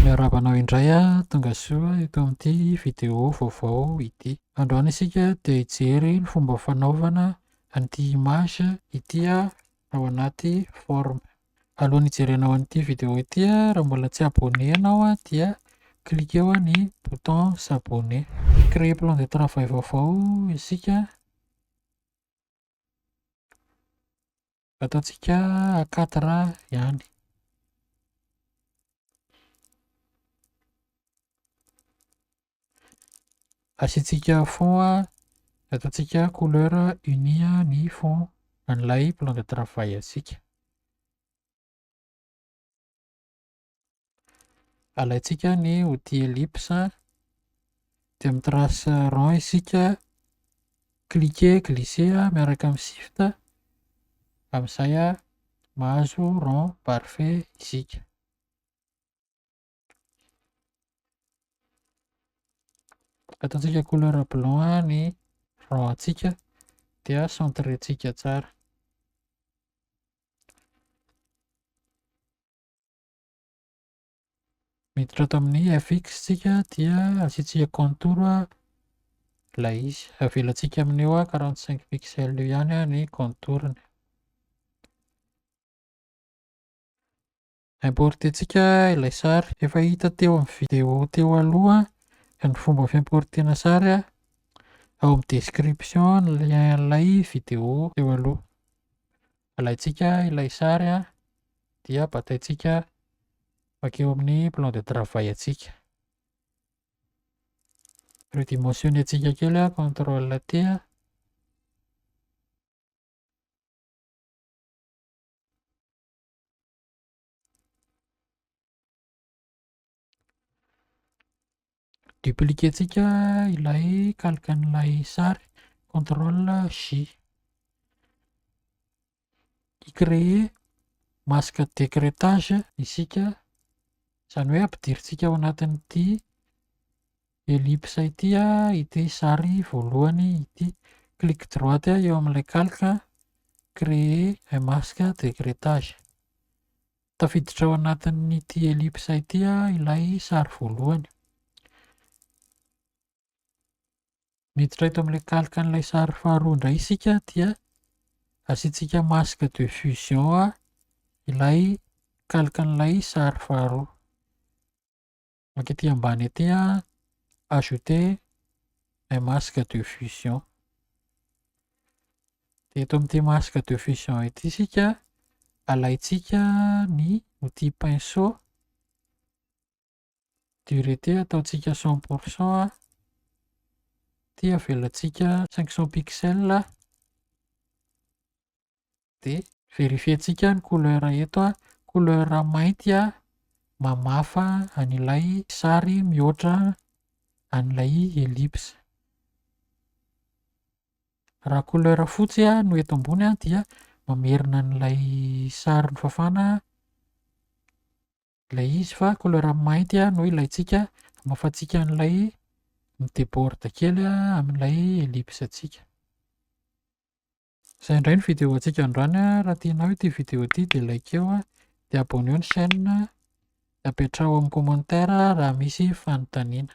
Miarahaba anao indray aho Tongasoa eto amin'ity vidéo vaovao ity. Androany isika dia hijery ny fomba fanaovana an'ity image ity ao anaty forme. Alohan'ny hijerenao an'ity vidéo ity raha mbola tsy abonné ianao dia cliquer eo ny bouton s'abonné. Hi-créer plan de travail vaovao isika. Ataontsika à quatre ans ihany. Asiantsika fond, ataontsika couleur unie ny fond an'ilay plan de travail antsika. Alaintsika ny outil ellipse dia mi trace rond isika, cliquer, glisser miaraka amin'ny shift amin'izay mahazo rond parfait isika. Ataontsika couleur blanc ny rond antsika dia centrer-tsika tsara. Miditra ato amin'ny fx isika dia asiantsika contour ilay izy. Avelantsika amin'io quarante cinq pixel io ihany ny contour-ny. Importer-tsika ilay sary. Efa hita teo amin'ny video teo aloha ny fomba fi-importer-na sary. Ao amin'ny description ny lien-n'ilay video teo aloha. Alaintsika ilay sary an, dia bataintsika mankeo amin'ny plan de travail antsika. Redimensionner-ntsika kely an, contrôle T an. Dupliquer-tsika ilay calque an'ilay sary, control J. I-creer masque d'écrêtage isika, izany hoe ampidirintsika ao anatin'ity ellipse ity ity sary voalohany ity. Clic droite eo amin'ilay calque, créer un masque d'écrêtage. Tafiditra ao anatin'ity ellipse ity ilay sary voalohany. Miditra eto amin'ilay kalikan'ilay sary faharoa indray isika dia asiantsika masque de fusion ilay kalikan'ilay sary faharoa. Maka ety ambany ety ajouter un masque de fusion. Dia eto amin'ity masque de fusion ity isika, alaintsika ny outil pinceau, durité ataontsika cent pour cent, dia avelantsika cinq cents pixels. dia verifientsika ny couleur eto a, couleur mainty a, mamafa an'ilay sary mihoatra an'ilay ellipse. Raha couleur fotsy no eto ambony dia mamerina an'ilay sary nofafana ilay izy fa couleur mainty no ilaintsika hamafantsika an'ilay mi-deborde kely amin'ilay ellipse antsika. Izay indray ny vidéo antsika androany a, raha tianao ity vidéo ity dia likeo a, dia abonneo ny chaîne a, dia apetraho amin'ny commentaire raha misy fanontaniana.